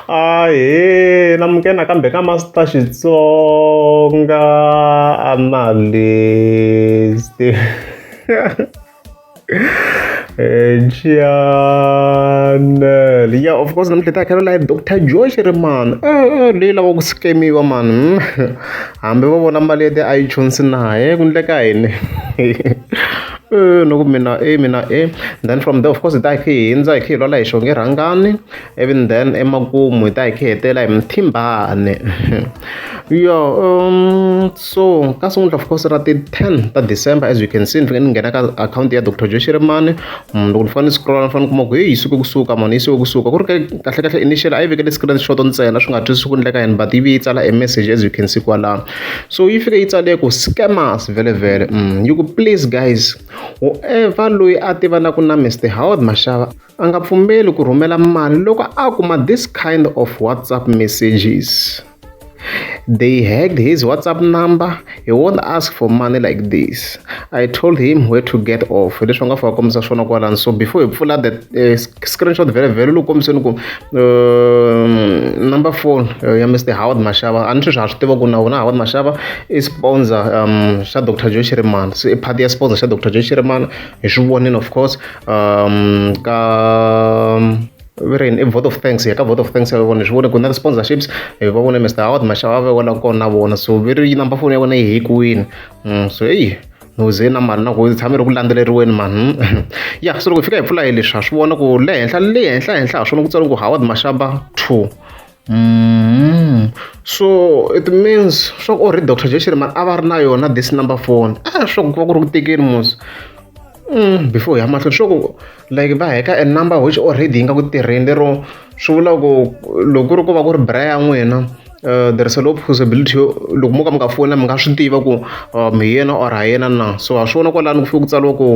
Ahee na muke nakambe ka Master Xitsonga Analyst Channel yeah of course namuntlha hi ta khela live Dr Josh ri mani leyi lava ku scamiwa mani hambi va vona mali ya ti-iTunes naye ku endleka yini. Eh, no ku mina e mina e then from there of course hi ta hi khe hi hindza hi khe hi lwala hi xonge rhangani even then emakumu hi ta hi khe hetela hi muthimbane yo um so ka sungula of course ra ti-ten ta december as you can see ni fike ni nghena ka akhawunti ya dr joe xirimani mm, loko ni fane ni scrolla ni fane ni kuma ku heyi yi suke kusuka mani yi suke kusuka ku ri ke kahlekahle initial a yi vekele screen shot ntsena swi nga twisi swi ku endleka yini but yi vi yi tsala e message as you can see kwalano so yi fike yi tsale ku scammers vele vele mm. yi ku please guys whoever loyi a tivanaku na mr howard mashava a nga pfumeli ku rhumela mali loko a kuma this kind of whatsapp messages they hacked his whatsapp number he won't ask for money like this I told him where to get off hi leswi va nga fika kombisa swona kwalani so before hi pfula the uh, screenshot vhele vhele loko kombiseni ku um, number phone uh, ya mr howard mashava a ni sweswi ha swi tiva ku na wona howard mashava i sponsor um, xa dr joe shirimana so i party ya sponsor xa dr joe shirimana hi swi vonini of course um, ka um, Viren, a vote of thanks ya ka vote of thanks ya vona swi vone ku na sponsorships va vone mr howard mashava va vona kona na vona so viri number phone ya vona yi hi kwini Mm, so eyi muze na mali na ku tshame ri ku landzeleriweni mani hmm. ya so loko hi fika hi pfula hi leswi ha swi vona ku le henhla le henhla henhla ha swona ku tsariwa ku howard mashaba two Mm. so it means swa ku o ri dr jeshirman a va ri na yona this number phone a ah, swa ku va ku ri ku tekeni musi Mm, before hi ya mahlweni swo ku like va heka a number which already yi nga ku tirheni lero swi vula ku loko ku ri ku va ku ri bra ya n'wina uh, there is a low possibility loko mo ka mi nga fona mi nga swi tiva ku uh, mi yena or ha yena na so ha swi vona kwalani ku fike ku tsariwa ku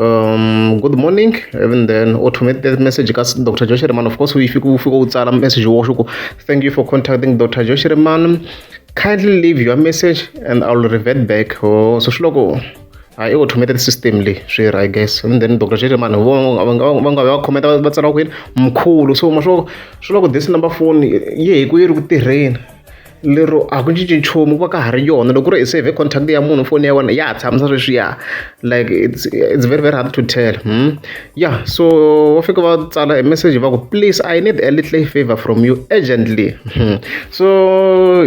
um, good morning even then automate that message ka dr josh reman of course u fike u fike u tsala message woxo ku thank you for contacting dr josh reman kindly leave your message and i will revert back oh, so swi loko hayi i automated system leyi swi ri i guess and then doctor xexi vanhu vo va nga va nga va khometa va tsala ku yini mkhulu so ma swo swi loko this number phone yi hi ku yi ri ku tirheni lero a ku cinci nchumu ku va ka ha ri yona loko ku ri hi save contact ya munhu foni ya wena ya ha tshamisa sweswiya like it's, it's very very hard to tell hmm? ya yeah, so va fika va tsala hi message va ku please i need a little favor from you urgently hmm. so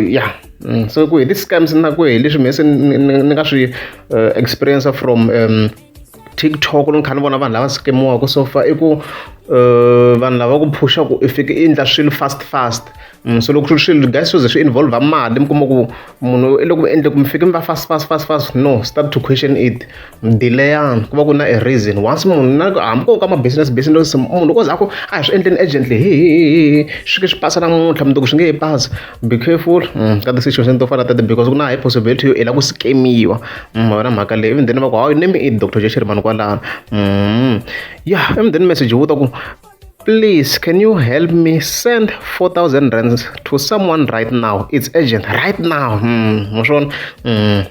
ya yeah. Mm, so ku hi ti-scams na ku hi leswi mhe se ni nga swi eh, experience from um, tiktok ni kha ni vona vanhu lava skemiwaka so far i ku eh, vanhu lava ku phusha ku i fike i endla swilo fast fast mm, so loko swi ri swilo guys swize swi involve mali mi kuma ku munhu i loko mi endle ku mi fike mi va fast fast fast fast no start to question it Ndileyani ku va ku na a reason once munhu na ku hambi ko ka ma business business munhu loko za ku a hi swi endleni urgently hi hi hi hi swi ke swi pasa namuntlha mundzuku swi nge he pasa be careful ka ti situation to fana tete because ku na high possibility yo i lava ku scamiwa wena mhaka leyi even then va ku hawu name i doctor jesheri mani kwalano ya even then message wu ta ku please can you help me send 4000 rands to someone right now it's urgent right now mm,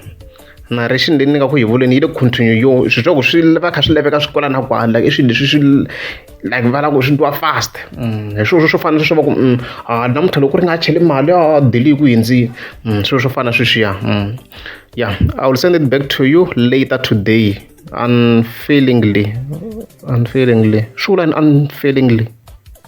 narration leyi ni nga ku yi vuleni yi le continue yo swi swa ku swi va kha swi laveka swi kwala na kwala like i swilo leswi swi like va lava ku swi twa fast mm, hi swilo swo fana sweswo va ku mm, a namuntlha loko ri nga cheli mali a deli ku hindzini mm, swilo swo fana sweswiya ya i will send it back to you later today unfailingly unfailingly swi vula ni unfailingly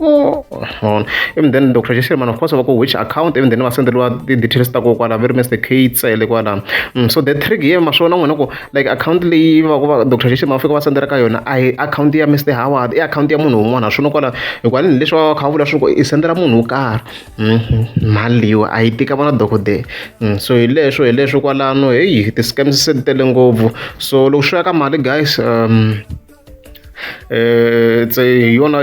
Oh, on. Even then, Dr. Jesse, man, of course, I go which account, even then, I send the details to go, very much the kids, eh, like, mm, so the trick here, ma shona ngwana go, like, account leave, Dr. Jesse, ma fika wa sendera ka yona, I account ya Mr. Howard, i account ya munhu un'wana, shona kwala, hikwani ni leswi va kha vula swi ku i sendera munhu wo karhi, mm-hmm. mali yo, a yi tika vona dokodela, mm, so hi leswo, hi leswo kwalano, heyi, ti-scams se ti tele ngopfu, so loko swi ya ka mali, guys, um, tse hi yona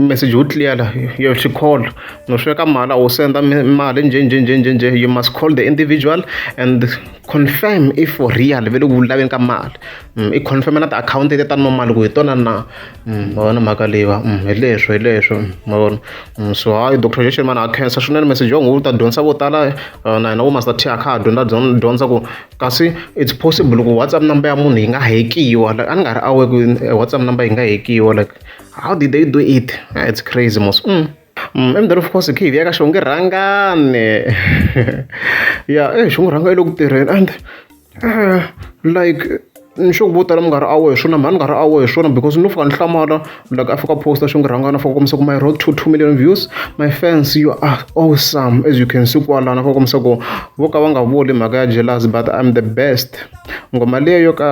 message yo clear la you have to call no sweka mali u senda mali nje nje nje nje nje you must call the individual and confirm if for real ve le ku laveni ka mali mm, i confirm na ti-akhawunti leti ta nwa mali ku hi tona na mm, ma vona mhaka leyiwa mm, hi leswo hi leswo ma vona so hayi doctor jeshimana a khensa swinene message yo n'wi u ta dyondzisa vo tala eh, na hina vo master t a kha a dyondza dyondza ku kasi it's possible ku whatsapp number ya munhu yi nga hekiwa like a ni nga ri aware ku eh, whatsapp number yi nga hekiwa like how did they do it ah, it's crazy mos mm. Mm, emdeni of course khivi ya ka xonge rhangane ya eh xonge rhanga yi le ku tirheni and uh, like Ni swi hunguta na munghana a wo hi swona mhani munghana a wo hi swona because no fika ni hlamala like a fika a post xo ngi rhangana fika kombisa ku my road to two million views my fans you are awesome as you can see kwalana fika kombisa ku vo ka va nga vuli mhaka ya jealous but I'm the best ngoma leyo yo ka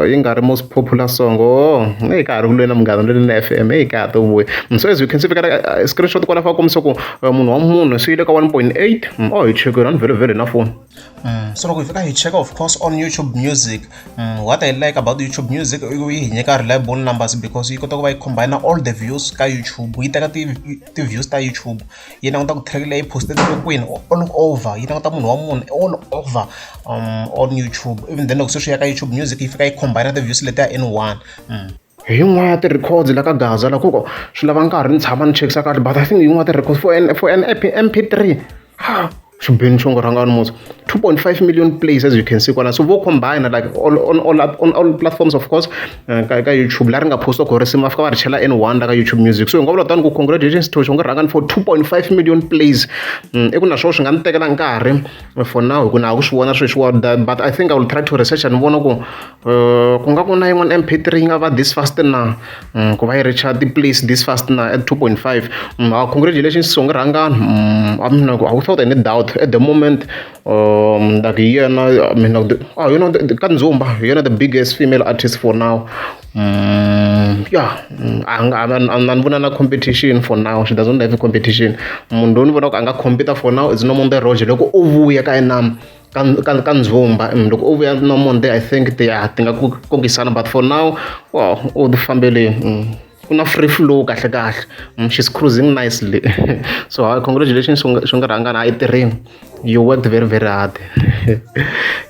yi nga ri most popular song oh hey ka ha ri kulweni na munghana lweni na FM hey ka ha to vuya so as you can see fika screenshot kwala fika kombisa ku munhu wa munhu swi yile ka 1.8 oh hi chekile a ni vhele vhele na phone So loko hi fika hi cheka of course on YouTube music what I like about YouTube music i ku yi hi nyika reliable numbers because yi kota ku va yi combine all the views ka YouTube yi teka ti ti-views ta YouTube yi languta ku track leyi post-eriwe kwini all over yi languta munhu wa munhu all over on YouTube even then loko se swi ya ka YouTube music yi fika yi combine ti-views letiya in one. Hi yin'wana ya ti-records la ka Gaza la ku swi lava nkarhi ni tshama ni chekisa kahle but I think hi yin'wana ti-records for an for an EP, MP3 ha xibeni xo ngo rhanga ni musa 2.5 million plays as you can see kwala so vo combine like all, on, all, on all platforms of course uh, ka, ka youtube la ri nga posta ku risimu va fika va ri chela n one la ka youtube music so hi nga vula tani ku congratulations to xo ngo rhanga ni for 2.5 million plays mm, i ku na swo swi nga ni tekela nkarhi for now hi ku na ha ku swi vona sweswiwa but i think i will try to research and vona ku ku nga ku na yin'wana M_P three yi nga va this fast na ku va yi reach-a ti-place this fast na at two point five congratulations songa rhangani a mina ku without any doubt at the moment na ku hi yena mina ku hi yona ka ndzumba hi yena the biggest female artist for now ya a nga a ni vona na competition for now she doesn't have competition munhu loyi ni vonaka a nga compete-a for now is Nomonde Roger loko o vuya ka inana. ka ka ka ndzumba and loko u vuya no monday i think ti ya ti nga ku kokisana but for now wa u ti fambeleni mm. ku na free flow kahle kahle mm, she's cruising nicely so hi congratulations swi nga rhangana a yi tirheni you worked very very hard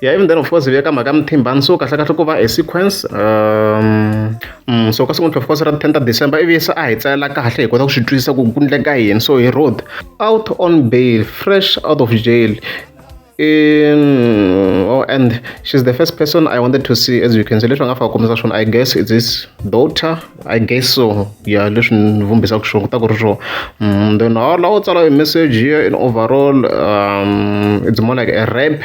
yeah even then of course veka mhaka muthimbani so kahle kahle ku va a sequence um, mm, so ka sequence of course ra 10 ta december ivi se a hi tsalela kahle hi kota ku swi twisisa ku ku ndleka yini so hi road out on bail fresh out of jail in oh, and she's the first person i wanted to see as you can see leswi nga faka kombisa swona i guess it's his daughter i guess so yeah leswi ni vumbisaka swona kuta ku ri swo mm, then how lawo tsala message here in overall um, it's more like a rap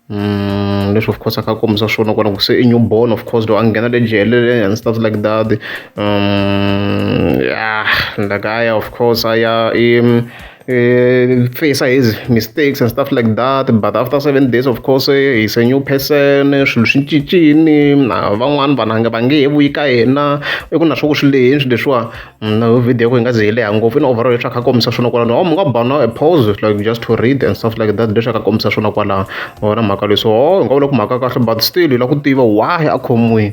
Mm, leswi of course a ka kombisa swona kona ku se i newborn of course lo a nghena le jelele and stuff like that um, yeah like aya of course aya i um, face his mistakes and stuff like that but after seven days of course he is a new person swilo swi cincile na van'wani vanhu a nge va nge he vuyi ka yena i ku na swa ku swi lehini swilo leswiwa na video ya ku yi nga ze yi leha ngopfu i ni overall leswi a kha a kombisa swona kwalano or mi nga ba na a pause like just to read and stuff like that leswi a kha a kombisa swona kwalano wona mhaka leyi so ho hi nga vula ku mhaka ya kahle but still hi lava ku tiva why a khomiwile